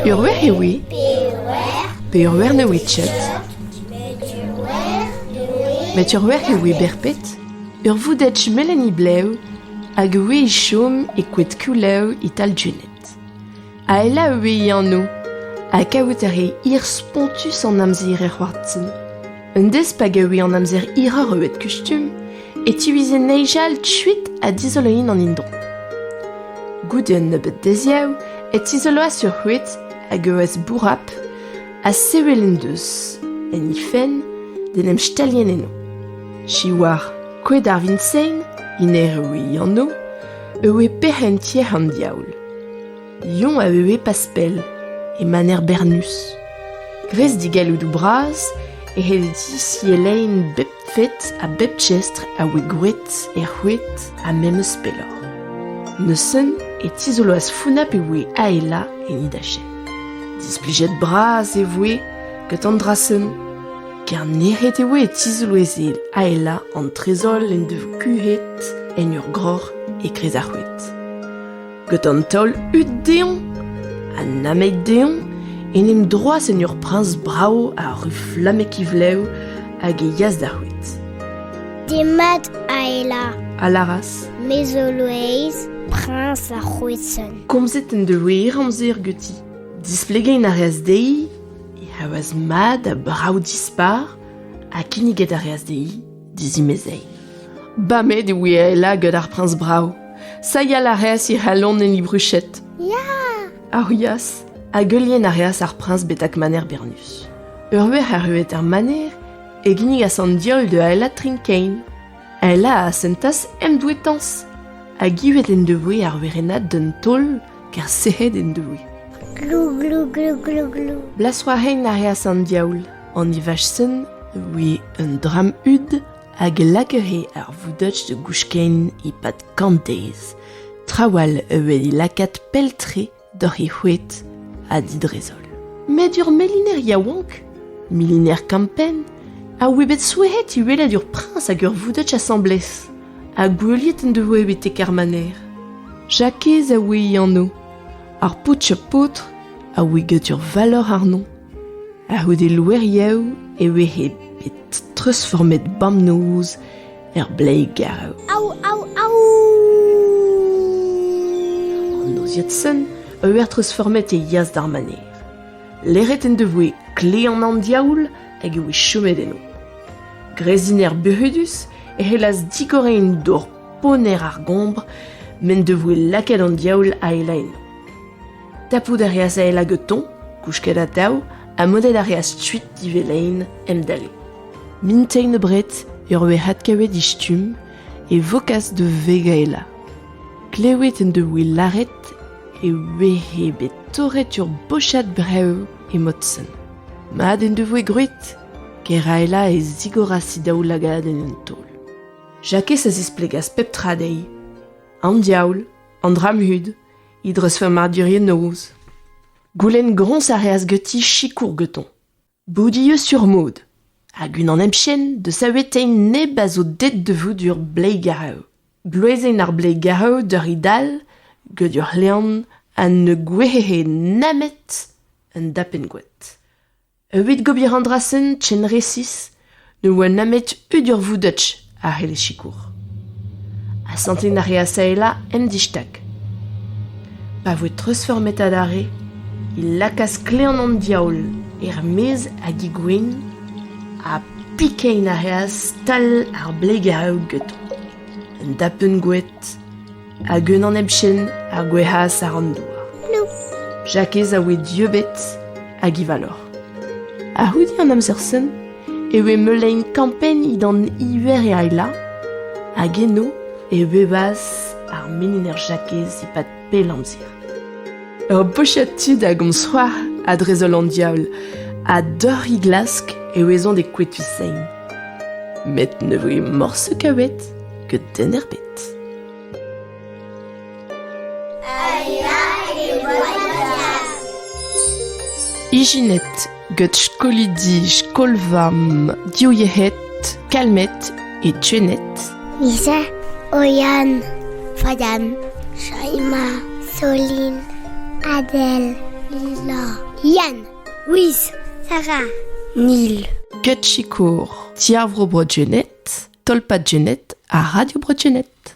Ur wer eo ivez pe ur wer ne ouiet ket met ur wer eo ivez berped ur voudetg melen he blev hag a ouie chom e koed Koulev e-tal Juned. Aela eo e anv ha kavout a ree hir-spontus an amzer er c'hoartin. Un dez pa gave an amzer hiroc'h eus kustum e tiwize neizhal kuit ha dizoloin an indon. Goude un nebeud deziav e tizoloas ur c'houed hag eus bourrap ha sevel en deus, en he fenn, d'en em stalien eno. Siwar, koed ar Vinsein, iner eo e anv, e oe pec'h en tier an diaoul. Lion a eue pas pell, e maner Bernus. Gres digalloudou bras, he di elein bep fed ha bep chestr a oe gwet e c'houet ha memes pelloc'h. Neuzen e tizoloas Founa pe oe aela en he dache. Displijet bras e voe gant an dra-sen. Kernec'het e oe e tizoloezh aelañ an trezol en devoa kuhet en ur groc'h etre ar c'houed. Gant an taol hud dezhoñ ha namek dezhoñ en em droas en ur priñs brav a ru flamek e vlev hag e yas d'ar c'houed. Demat, Aela, a lâras. Me zo Loeiz, priñs ar c'houed sonn. Komzet en devoe hir-amzer ganti. Displegañ a reas dezhi e c'havas mat ha brav-dispar ha kinniget a reas dezhi dizimezei. Bamet e voe Aela gant ar priñs brav. Sayal a reas he c'halon en he bruched. Ya! Aurias hag heulienn a reas ar priñs betek maner Bernus. Ur verc'h arruet er maner e ginnigas an diaoul da Aela Trinkein. Aela a sentas emdouetañs hag ivet en devoe ar werennad d'un taol Ker sec'hed en doe. Glou, glou, glou, glou, glou. Blas war hein a reas an diaoul. An Ivaschen a voe un dramm hud hag a lakere ar voudach da gouchken e-pad kant deiz. Trawal a voe lakaat pell-tre doc'h he c'hoed ha didrezol. Met ur meliner yaouank, miliner kampenn, a oe bet souezhet e welet ur priñs hag ur voudach asambles. ha goueliet en devoe betek ar maner. Jakez a oe e ano. Ar paotr ha paotr a oe get ur valor àrno. A-c'houde loeriaoù e vehe bet treuzformet bamnoz er Bleigarv. Au, au, au! An noziad sen a oe treuzformet e yas d'ar maner. Leret en devoe kle an an diaoul hag e oe chomet eno. Greziner buc'hudus e c'hellas digoreiñ un dor ponner ar gombr m'en devoe lakaet an diaoul aela eno. Tapout a reas aela getoñ, kousket atav, ha modet a reas kuit divelein emdale. Mintein abred e roe adkavet he stumm e vokas da veg aela. Klevet en devoe lâret e oe bet torret ur bochad brev Emaout-sen mat en devoe gwraet? Keraela e zigoras he daoulagad en un taol. Jakez a zisplegas pep tra dezhi. An diaoul, an dra-mhud, he dreuzfurmadurien noz. Goulenn groñs a reas ganti sikour ganton. Boudieu sur mod hag unan hepken da savetein neb a zo deet da vout ur bleigareu. Bluezenn ar Blegav deuriñ dall get ur c'hlean ha ne gouezhe nemet un dapenn-gwad. Evit gober an dra-sen ken resis ne oa nemet udur voudetch a c'helle sikour. Asantiñ a reas Saela en distag. Pa voe treuzfurmet adarre e lakaas klean an diaoul er-maez ha digouin Ha pikañ a reas stal ar Blegav get un dapenn goed hag un anepchenn a gouezhas àr an douar. Jakez a oe dieubet hag e valor. A-c'houde an amzer-sen e oe meulein kampenniñ d'an Iveriaila hag eno e bebas ar meniner Jakez e-pad Bel amzer. Ur bochad tud a gomz c'hoar ha drezaol an diaoul, ha doc'h he glask e ouezont e kwetu sein. Met ne voe morse kavet que den erbet. Ijinet gant skolidi skol-vamm diwezhat Kalmed ha Jenet. Lisa, Oyan, Fadan, Shaima, Solin, Adèle, Lila, Yann, Wiz, Sarah, Neil. Gant sikour Ti ar Vro Bro Jenet, Tolpad Jenet ha Radio Bro Jenet.